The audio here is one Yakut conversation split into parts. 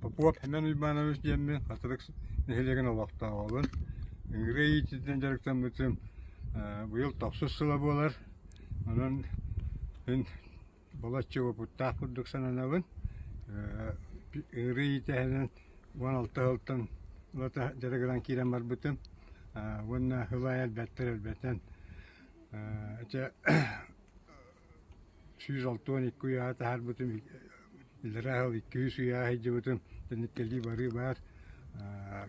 Попов Семен Уйбаанович диэммин Хатырык нэһилиэгин олохтооҕобун. Ыҥырыы иитиитинэн дьарыктаммытым э, быйыл тохсус сыла буолар. Онон мин балачча уопуттаах курдук сананабын. Э, ыҥырыы иитиһинэн уон алта сылтан улата дьарыгынан киирэн барбытым. Э, уонна ыл ай элбэттэр элбэтэн. Э, сүүс алтуон икки уйааһы таһаарбытым, илэраа сыл икки сүүс уйааһы сылдьыбытым, тэнниктэлии барыы баар,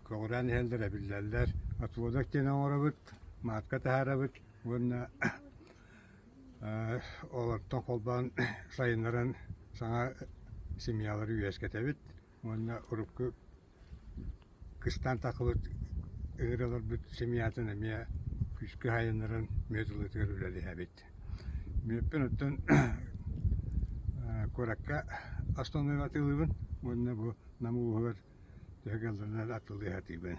көҕүрээн иһэллэр, эбиллэллэр. Отводок диэн оҥоробут, маатка таһаарабыт уонна олортон холбоон сайыннаран саҥа семьялары үөскэтэбит уонна урукку Кыстаан Тахыбыт ыҥыра олорбут семьятын эмиэ күүскэ уһайыннаран мүөт ылыытыгар үлэлэһэбит. Мүөппүн оттон куоракка основнайга атыылыыбын уонна бу Нам улууһугар төһө кыалларынан атылыы сатыыбын.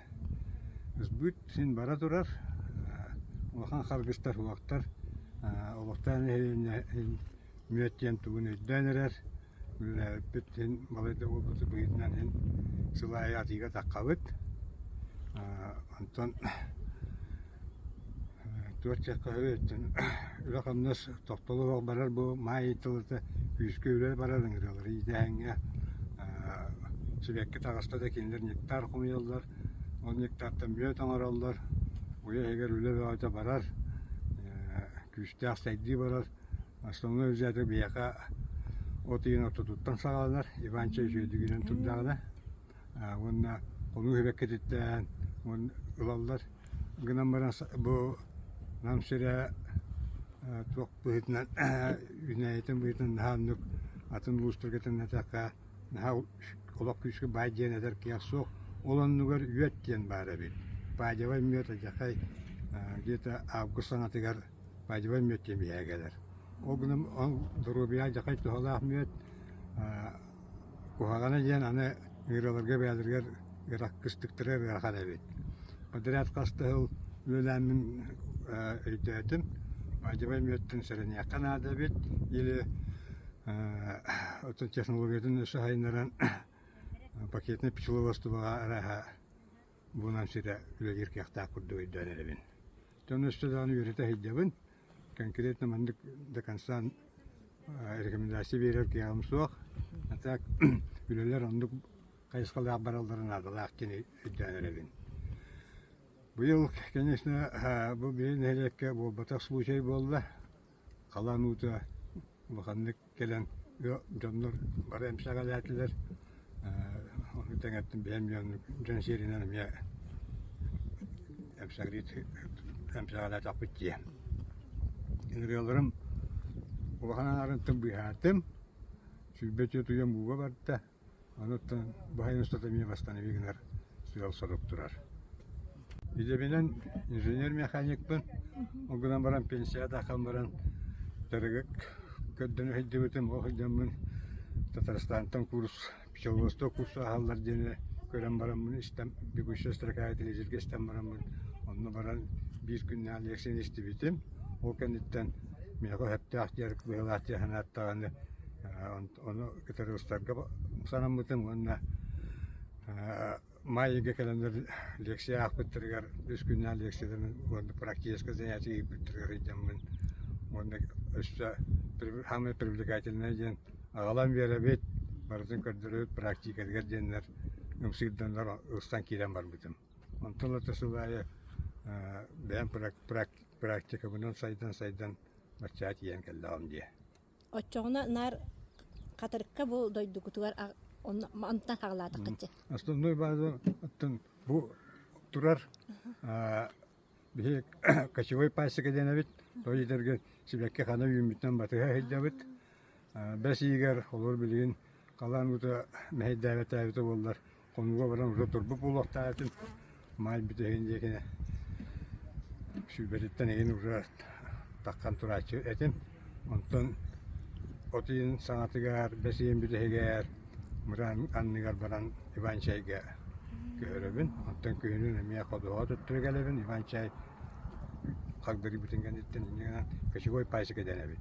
Сбыт син бара турар, улахан харгыстар, суһахтар, олохтоох нэһилиэнньэ иһин Мүөт диэн тугун өйдөөн эрэр, үлэлээбиппит син балайда буолбутун быһыытынан син сыл аайы атыыга таххабыт. Онтон туорт чэккэһэбиттэн үлэ-хамнас тохтоло суох барар бу Маайа тылыта күүскэ үрэ барар ыҥырыалары иитээһиҥҥэ сибэкки таҕаста да кинилэр ньиктаар хомуйаллар. Ол ньиктаартан мүөт оҥороллор, уйа иһигэр үлэ бөҕөтө барар, күүстээх сайдыы барар. Основной взято биһиэхэ от ыйын ортотуттан саҕаланар, Иванча үтүөтүгүнэн турдаҕына уонна хонуу иһибэккититтэн ылаллар гынан баран бу нам сирэ туох быһыытынан үүнээйитин быһыытынан наһаа оннук атын улуустарга төннөтөххө наһаа олох күүскэ баай диэн этэр кыах суох. Ол оннугар үөт диэн баар эбит. Бадьавай, Мёта, Дьэхэй где-то август саҥатыгар Бадьылай Мүөттү биһээ кэлэр. Ол гынан ол доруобуйа алдьархай туһалаах мүөт, куһаҕана диэн аны ыарыыларга бэйэлэригэр ыраах кыстыктара ыарахан эбит. Подрядка астыһыл үөлээммин өйдөөтүм. Бадьылай Мүөттүн сэрэниэххэ наада эбит или оттон технологиятын өссө сайыннаран пакетнай пчеловодствоҕа арааһа булан ситэ үлэлиир кыахтаах курдук өйдөөн эрэбин. Тон өстө даҕаны үөрэтэ иһийдэбин. Конкретно маннык до конца рекомендация берер кыаҕым суох. А так үлэлэр оннук хайысхалаах баралларын наадалаах диэн өйдөөн эрэбин. Быйыл, конечно, бу бэйэ нэһилиэккэ буолбатах случай буолла. Халан уута улаханнык кэлэн дьоннор бары эмсэҕэлээтилэр ону тэҥэттэн бэйэм дьон сиэринэн эмиэ эмсэҕэлээтэхпит дии ырыаларым улахан аҥаарын тым быыһаатым сүүрбэ үтүө утуйан бууга барда Оттон баһын устата эмиэ бастаан эбии гынар сыал-сорук турар. Идэбинэн инженер-механикпын, ол гынан баран пенсияҕа дааххан баран дырыгык көрдөн сылдьыбытым, ол сылдьаммын Татарстантан курс, пчеловодство курсу аһаллар диэни көрөн бараммын истэн, бегущая строка телевизорга истэн бараммын, онно баран биир күннээх лекцияны истибитим. Ол кэнниттэн миэхэ өһөптөөх диэр, быһыылаах диэн санааттаҕына, ону кытары устарга санаммытым уонна маайыга кэлэн лекция аахпыттарыгар үс күннээн лекцияларын уонна практическа занятие ыыппыттарыгар ыйдаммын уонна өссө самое привлекательное диэн аҕалан биэрэбит барытын көрдөрөбүт практикатыгар диэннэр ымсыырданнар ыстан киирэн барбытым онтон ата сыл аайы бэйэм практикабынан сайдан сайдан баччаа тиийэн кэллэҕим дии Оччоҕуна наар Хатырыкка бу дойдугутугар онтон хаҕылаатаххытчы. Основной база оттон бу турар биһи кочевой пасека дэнэбит то идэрге сибэкки хана үүммүттэн батыһа ыһыйдабыт бэс иигэр олор билигин халаан ута мэһэйдээбэтээбитэ буоллар Хонууга баран уже турбут буолуохтаахытын маай бүтэһин диэкине сүүбэриттэн игин уже таххан турааччы этин. Онтон от ыйын саҥатыгар, бэс ыйын бүтэһигэр мыраан анныгар баран Иван чайга көһөрөбүн. Онтон күһүнүн эмиэ ходоҕо туттура кэлэбин. Иван чай хагдырыйбытын кэнниттэн иннигинэн кочевой пасека дэнэбит.